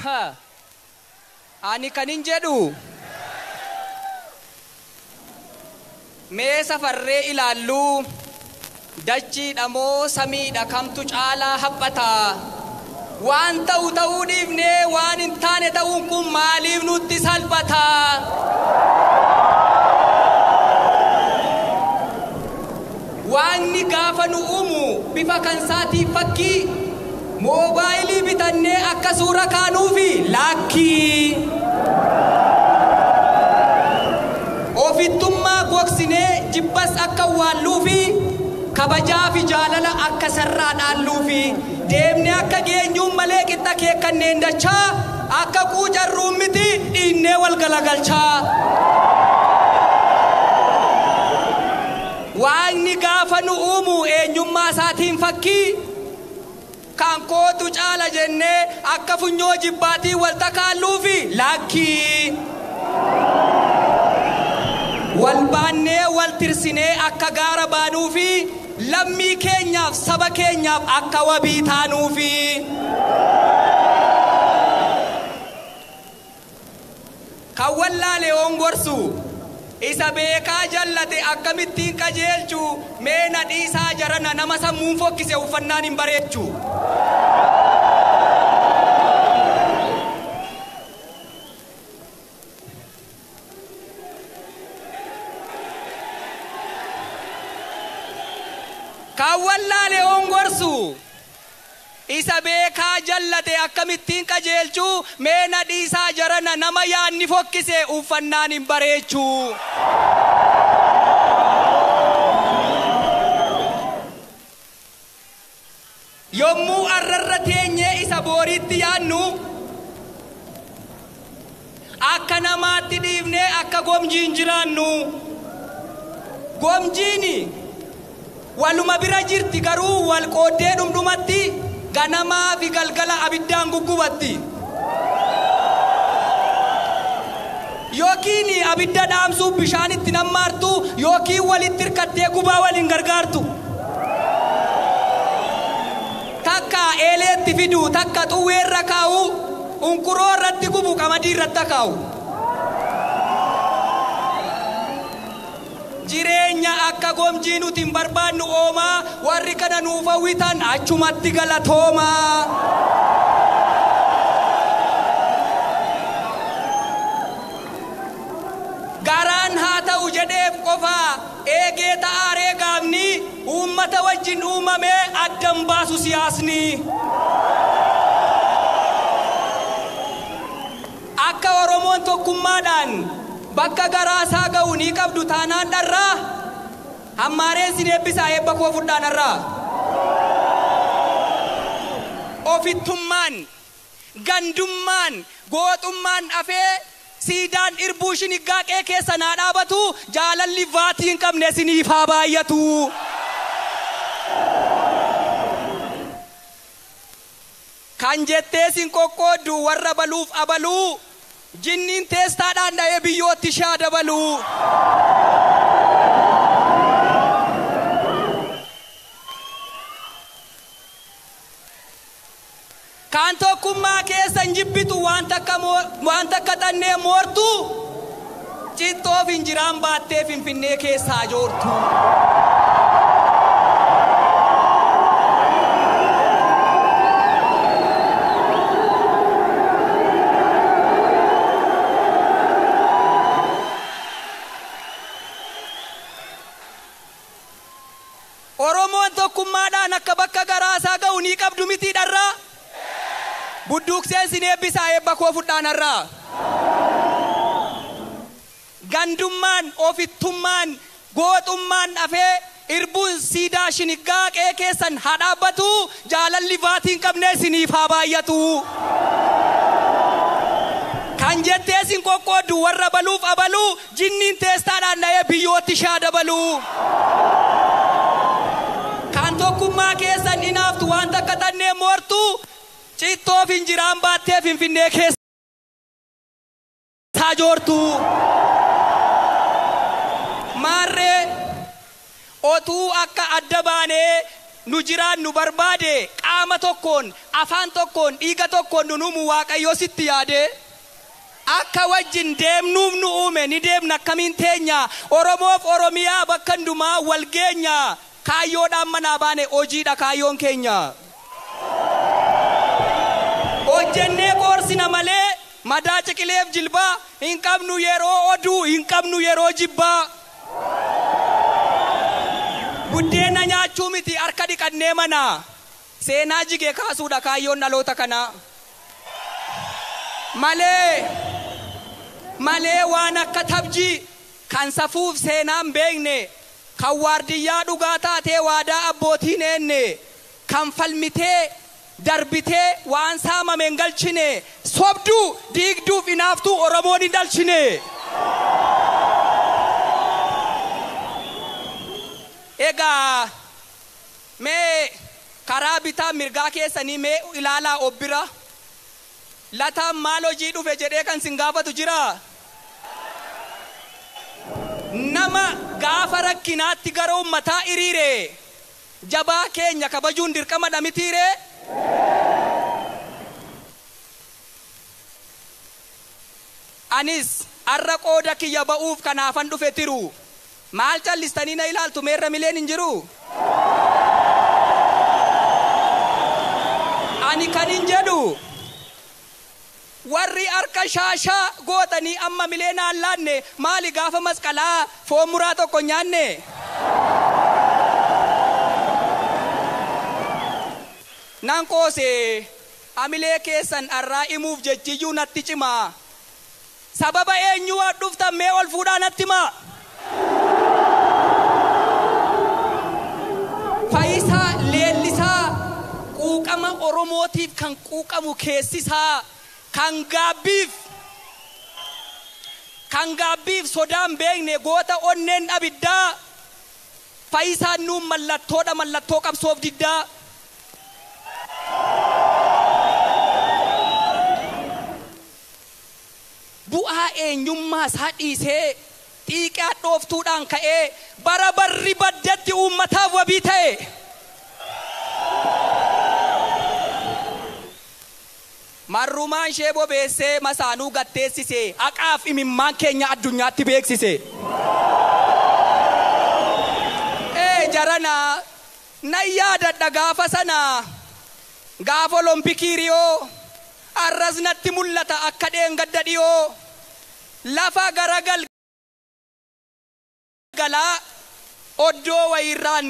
Ka, ani kanin jedhu, mee safarree ilaalluu, dachiidha moo samiidha kamtu caalaa haphata? Waan ta'u ta'uu dhiifnee waan hin taane ta'uun kun maaliif nutti salphata? Waaqni gaafa nu uumu bifa kan isaatiin fakkii moobaayilii bitannee akka suura kaanuufi? Laakkii. Ofittummaa gogsinee jibbas akka awwaalluufi? Kabajaafi jaalala akka sarraa dhaalluufi? Deemnee akka geenyuun malee qixxa akeekkanneen dachaa akka quucarruun miti dhiinnee wal galagalchaa. Waaqni gaafa nu uumu eenyummaa isaatiin fakkii Kan kootu caala jennee akka funyoo jibbaatiin wal takaalluufi? Lakkii! Wal baannee wal tirsinee akka gaara baanuufi? Lammii keenyaaf saba keenyaaf akka wabii taanuufi? Kan wallaale yoon gorsu. Isa beekaa jallate akkamittiin qajeelchu mee na dhiisaa jarana nama sammuun fokkise uffannaan hin bareechu. Kan wallaale yoon gorsu. Isa beekaa jallate akkamittiin qajeelchuu mee na dhiisaa jarana nama yaadni fokkise uuffannaan hin bareechuu. Yommuu arrarra teenyee isa booriitti yaadnu. Akka namaatti dhiifnee akka gomjiin jiraannu. Gomjiin waluma bira jirti garuu wal qooddee dhumdhumatti ganamaafi galgala abiddaan guggubatti. Yookiin abidda dhaamsuuf bishaan itti nammaartu yookiin walitti hirkattee gubaa waliin gargaartu. Takka eeleetti fidu, takka xuwweerra kaa'u, Unkuroo irratti gubu qamadii irratti akaa'u. Jireenya akka gomjii nuti hin barbaadnu oomaa warri kana nuuf hawwitan achumatti galatoomaa. Garaan haa ta'u jedheef qofaa eegee ta'aa ree gaafni. uummata wajjin uumame adda hin baasu siyaasni. Akka Oromoon tokkummaadhaan bakka garaa isaa ga'u ni qabdu taanaan dharraa hammaareen sin eebbisaa eebba koo fudhaa narraa. Ofittummaan Gandummaan, gooxummaan dhafee siidaan irbuu shiniggaa qee keessan haa dhaabatu, jaalalli vaatii hin qabne isiniif haa baay'atu. Kan jettees hin qoqqooddu warra baluuf abaluu, jinniin teestaadhaan dha'ee biyyootti ishee haa dabaluu. Kan tokkummaa keessan jibbitu waan takka waan takka xannee moortuu cittoo finjiraan baattee finfinnee keessaa joortuu. Oromoon tokkummaadhaan akka bakka garaasaa gahu ni qabdu mitii dharraa? Budduuqseen sin eebbisaa eebba koo fudhaan har'aa. Gandummaan, ofittummaan, gooxummaan dhafee irbuun siidaa shiniggaa qe'ee keessan haa dhaabbatu, jaalalli vaatii hin qabne isiniif haa baay'atu. Kan jettee sin qoqqooddu warra abaluuf abaluu Jinniin teestaadhaan dha'ee biyyootti ishaa dabalu. Kan tokkummaa keessan inaaftu waan takka tanneen moortu cittoo finjiraan baattee finfinnee keessa joortu. Maarree otuu akka adda baanee nu jiraannu barbaade qaama tokkoon, afaan tokkoon, dhiiga tokkoon nun uumu Waaqayyoo sitti yaadee? Akka wajjin deemnuuf nu uume ni deemna akkamiin teenya Oromoof Oromiyaa bakka hundumaa wal geenya Kaayyoodhaan manaa baane hojiidha kaayyoon keenya Hojjennee qoorsina malee madaa ciqileef jilbaa Hin qabnu yeroo oduu hin qabnu yeroo jibbaa Buddeena nyaachuu miti harka dhiqannee manaa Seenaa jige kaasuudha kaayyoon dhaloota kanaa. Malee Malee waan akka tabji kan safuuf seenaan beekne, kan waardiyyaa dhugaa taatee waadaa abbootiin eenne, kan falmitee darbitee waan saamame hin galchine, sobduu, diigduu fi inaaftuu Oromoon hin dhalchine. Egaa. Mee karaa bitaa mirgaa keessanii mee ilaalaa of bira. Lataan maal hojii dhufe jedhee kan sin gaafatu jiraa? Nama gaafa rakkinaatti gara ummataa hiriire jabaa keenya kabajuun dirqama dha mitii ree? Anis har'a qooda kiyya ba'uuf kanaafan dhufe tiru Maal callistanii na ilaaltu mee ramileen hin jiruu? Ani kanin jedhu warri harka shaashaa gootanii amma milee naan laanne maali gaafa masqalaa foon muraa tokko hin nyaanne? Nan qoose hamilee keessan dharraa himuuf jechiyyuu natti cimaa Sababa eenyuu as dhuftan mee ol fuudhaa natti himaa. Fayisaa Leellisaa quuqama Oromootiif kan quuqamu keessisaa kan gaabbiif kan gaabbiif sodaa hin beekne goota onneen abiddaa Fayisaan nuuf mallattoodha mallattoo qabsoof diddaa. Bu'aa eenyummaa isaa dhiisee, xiiqii hadhooftuudhaan ka'ee bara barri baddetti uummataaf wabii ta'e. Marrumaan ishee bobeessee masaanuu gad teessise, haqaaf imimmaan keenya addunyaatti beeksise. Ee jarana, nan yaadadha gaafa sana, gaafa Olompikii Riyoo. Arras natti mul'ata akka dheengadda dhiyoo lafa gara galgalaa oddoo wayiirraan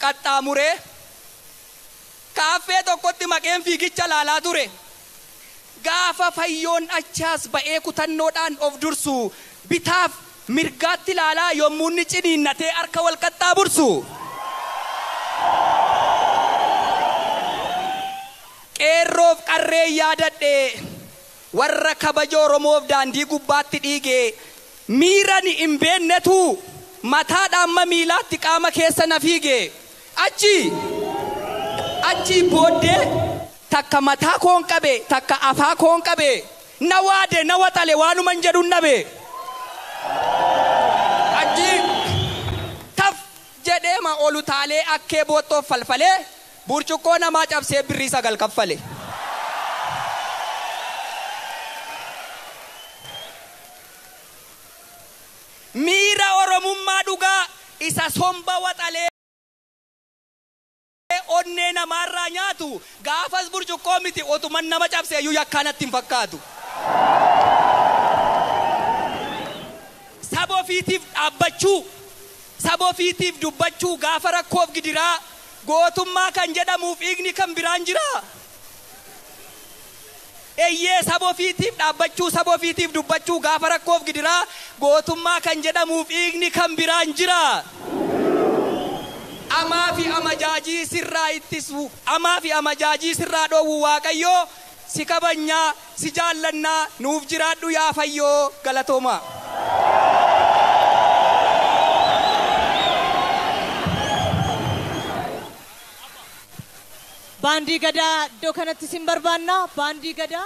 qaxxaamuree kaaffee tokkotti maqeen fiigicha ilaalaa ture. Gaafa Fayyoon achaas ba'ee kutannoodhaan of dursu bitaaf mirgaatti ilaalaa yommuu inni ciniinnatee harka wal qaxxaabursu. Qeerroof qarreen yaadadhe warra kabaja Oromoof daandii gubbaatti dhiige miira ani hin beennetu mataadhaa amma miilaatti qaama keessa na fiige. Achii achii booddee takka mataa koon qabe takka afaa koon qabe na waade na waxale waanuman jedhun dhabe. Achii taf jedheema ol utaalee akkee boottoof falfalee Burcuqqoo namaa cabsee birrii sagal kaffale. Miira Oromummaa dhugaa isa somba waxalee onnee namaarraa nyaatu gaafas burcuqqoo miti otuman nama cabseeyyuu yakkaa natti hin fakkaatu. Saba ofiitiif dhaabbachuu, saba ofiitiif dubbachuu gaafa rakkoof gidiraa Gootummaa kan jedhamuuf hiikni kan biraan jiraa? Eyyee, saba ofiitiif dhaabbachuu, saba ofiitiif dubbachuu, gaafa rakkoof gidiraa gootummaa kan jedhamuuf hiikni kan biraan jiraa? Amaafi amajaajii sirraa ittisuu, amaafi amajaajii sirraa dhoowwu Waaqayyoo Si kabajna, si jaallanna, nuuf jiraadhu yaa Fayyoo! Galatoomaa! Baandii Gadaa iddoo kanatti isin barbaanna. Baandii Gadaa.